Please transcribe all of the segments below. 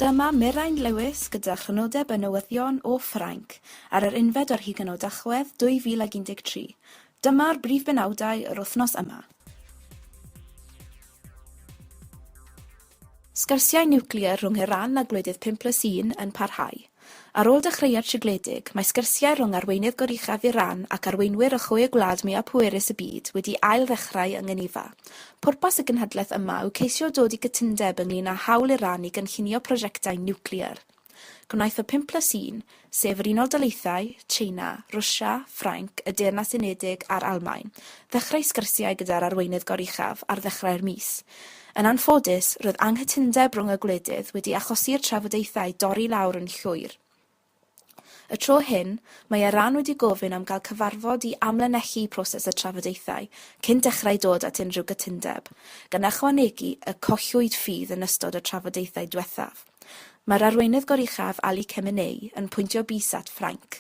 Dyma Mirain Lewis gyda chrynodeb y newyddion o Ffrainc ar yr unfed ar hugain o Dachwedd 2013. Dyma'r brif benawdau yr wythnos yma. Sgyrsiau niwclear rhwng Iran a gwledydd 5 plus 1 yn parhau. Ar ôl dechreuad sigledig, mae sgyrsiau rhwng arweinydd goruchaf Iran ac arweinwyr y chwe gwlad mwyaf pwerus y byd wedi ail-ddechrau yng Ngeneva. Pwrpas y gynhadledd yma yw ceisio dod i gytundeb ynglŷn â hawl Iran i gynllunio prosiectau niwclear. Gwnaeth y pum plus un, sef yr Unol Daleithiau, Tsieina, Rwsia, Ffrainc, y Deyrnas Unedig a'r Almaen, ddechrau sgyrsiau gyda'r arweinydd goruchaf ar ddechrau'r mis. Yn anffodus, roedd anghytundeb rhwng y gwledydd wedi achosi i'r trafodaethau dorri i lawr yn llwyr. Y tro hyn, mae Iran wedi gofyn am gael cyfarfod i amlinellu proses y trafodaethau cyn dechrau dod at unrhyw gytundeb, gan ychwanegu y collwyd ffydd yn ystod y trafodaethau diwethaf. Mae'r arweinydd goruchaf Ali Khamenei yn pwyntio bys at Ffrainc.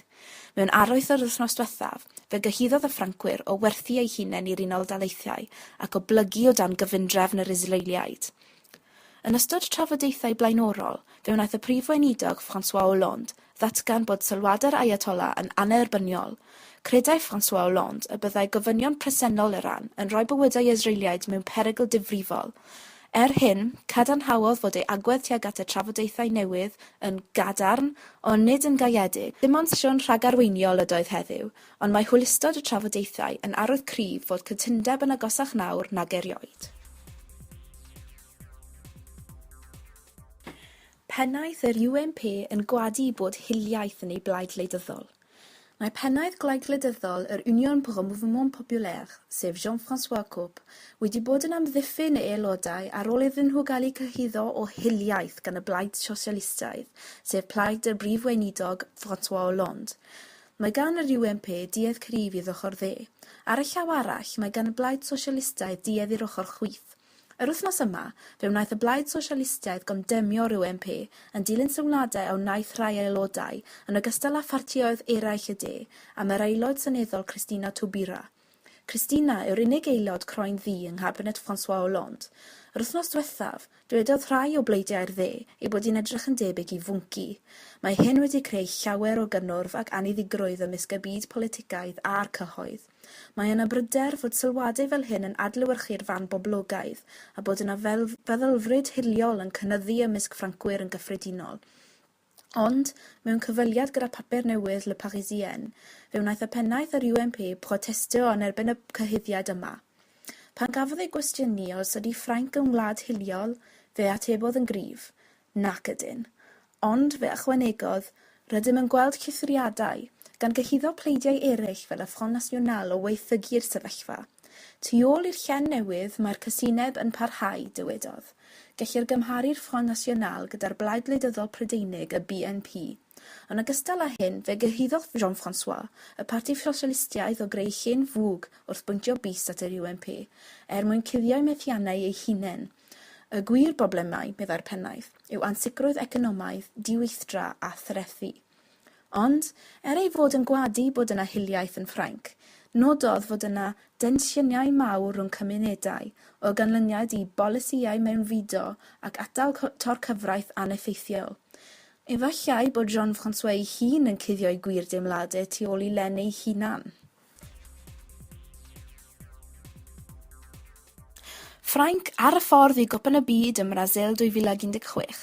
Mewn arwydd yr wythnos diwethaf, fe gyhuddodd y Ffrancwyr o werthu eu hunain i'r Unol Daleithiau ac o blygu o dan gyfundrefn yr Israeliaid. Yn ystod trafodaethau blaenorol, fe wnaeth y Prif Weinidog François Hollande ddatgan bod sylwadau'r Ayatollah yn annerbyniol, credai François Hollande y byddai gofynion presennol Iran yn rhoi bywydau Israeliaid mewn perygl difrifol. Er hyn, cadarnhaodd fod ei agwedd tuag at y trafodaethau newydd yn gadarn, ond nid yn gaeedig. Dim ond sesiwn rhagarweiniol ydoedd heddiw, ond mae hwylustod y trafodaethau yn arwydd cryf fod cytundeb yn agosach nawr nag erioed. Pennaeth yr UMP yn gwadu bod hiliaeth yn ei blaid wleidyddol. Mae pennaeth Gwlad Gwleidyddol yr Union pour un mouvement populaire, sef Jean-François Caupe, wedi bod yn amddiffyn ei aelodau ar ôl iddyn nhw gael eu cyhuddo o hiliaeth gan y Blaid Sosialistaidd, sef plaid y Brif Weinidog François Hollande. Mae gan yr UMP duedd cryf i'r ochr dde. Ar y llaw arall, mae gan y Blaid Sosialistaidd duedd i'r ochr chwith. Yr wythnos yma, fe wnaeth y Blaid Sosialistaidd gondemnio'r UMP, yn dilyn sylwadau a wnaeth rhai aelodau, yn ogystal â phartïoedd eraill y de, am yr Aelod Seneddol Christina Taubira. Christina yw'r unig aelod croen ddu yng nghabinet François Hollande. Yr wythnos diwethaf, dwedodd rhai o bleidiau'r dde ei bod hi'n edrych yn debyg i fwnci. Mae hyn wedi creu llawer o gynnwrf ac anniddigrwydd ymysg y byd politicaidd a'r cyhoedd. Mae yna bryder fod sylwadau fel hyn yn adlewyrchu'r fan boblogaidd a bod yna feddylfryd hiliol yn cynyddu ymysg Ffrancwyr yn gyffredinol. Ond, mewn cyfweliad gyda papur newydd Le Parisien, fe wnaeth y pennaeth yr UMP protestio yn erbyn y cyhuddiad yma. Pan gafodd ei gwestiynu os ydi Ffrainc yn wlad hiliol, fe atebodd yn gryf, Nac ydyn. Ond, fe ychwanegodd, rydym yn gweld cythuriadau, gan gyhuddo pleidiau eraill fel y Front National o waethygu'r sefyllfa. Tu ôl i'r llen newydd, mae'r casineb yn parhau, dywedodd. Gellir gymharu'r Front National gyda'r Blaid Gwleidyddol Prydeinig, y BNP. Yn ogystal â hyn, fe gyhuddodd Jean-François, y Parti Ffrosialistiaeth o greu llun fwg wrth bwyntio bys at yr UMP, er mwyn cuddio'u methiannau eu hunain. Y gwir broblemau, meddai'r pennaeth, yw ansicrwydd economaidd, diweithdra a threthi. Ond, er ei fod yn gwadu bod yna hiliaeth yn Ffrainc, nododd fod yna densiynau mawr rhwng cymunedau o ganlyniad i bolisïau mewnfudo ac atal torcyfraith aneffeithiol. Efallai bod Jean-François ei hun yn cuddio'i gwir deimladau tu ôl i Len ei hunan. Ffrainc ar y ffordd i Gwpan y Byd ym Mrasil 2016.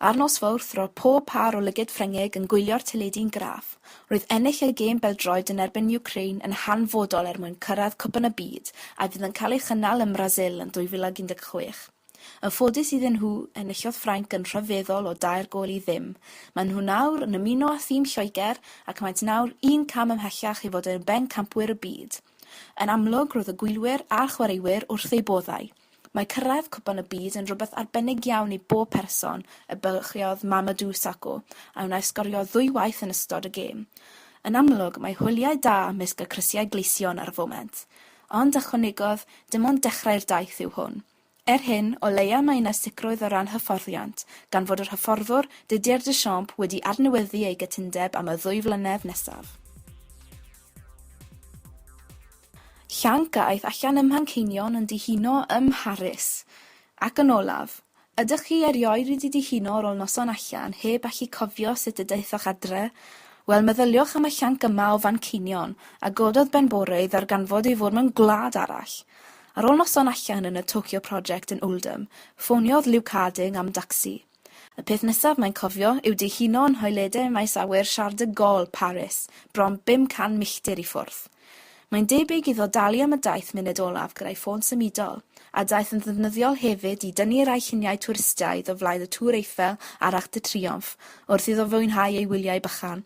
Ar nos Fawrth, roedd pob pâr o lygaid Ffrengig yn gwylio'r teledu'n graff. Roedd ennill y gêm bel-droed yn erbyn Wcráin yn hanfodol er mwyn cyrraedd Cwpan y Byd a fydd yn cael ei chynnal ym Mrasil yn 2016. Yn ffodus iddyn nhw, enillodd Ffrainc yn rhyfeddol o dair gôl i ddim. Maen nhw nawr yn ymuno â thîm Lloegr ac maent nawr un cam ymhellach i fod yn bencampwyr y byd. Yn amlwg, roedd y gwylwyr a'r chwaraewyr wrth eu boddau. Mae cyrraedd Cwpan y Byd yn rhywbeth arbennig iawn i bob person, y bylchiodd Mamadou Sakho, a wnaeth sgorio ddwywaith yn ystod y gêm. Yn amlwg, mae hwyliau da ymysg y crisiau gleision ar y foment. Ond, ychwanegodd, dim ond dechrau'r daith yw hwn. Er hyn, o leia mae yna sicrwydd o ran hyfforddiant, gan fod yr hyfforddwr, Didier Deschamps, wedi adnewyddu ei gytundeb am y ddwy flynedd nesaf. Llanc a aeth allan ym Mhanceinion yn dihuno ym Mharis. Ac yn olaf, ydych chi erioed wedi dihuno ar ôl noson allan heb allu cofio sut y daethoch adre? Wel, meddyliwch am y llanc yma o Fanceinion, a gododd ben bore i ddarganfod ei fod mewn gwlad arall! Ar ôl noson allan yn y Tokyo Project yn Oldham, ffoniodd Luke Harding am dacsi. Y peth nesaf mae'n cofio yw dihuno yn nhoiledau maes awyr Charles de Gaulle, Paris, bron 500 milltir i ffwrdd. Mae'n debyg iddo dalu am y daith munud olaf gyda'i ffôn symudol, a daeth yn ddefnyddiol hefyd i dynnu rai lluniau twristaidd o flaen y Tour Eiffel a'r Arc de Triomphe wrth iddo fwynhau ei wyliau bychan.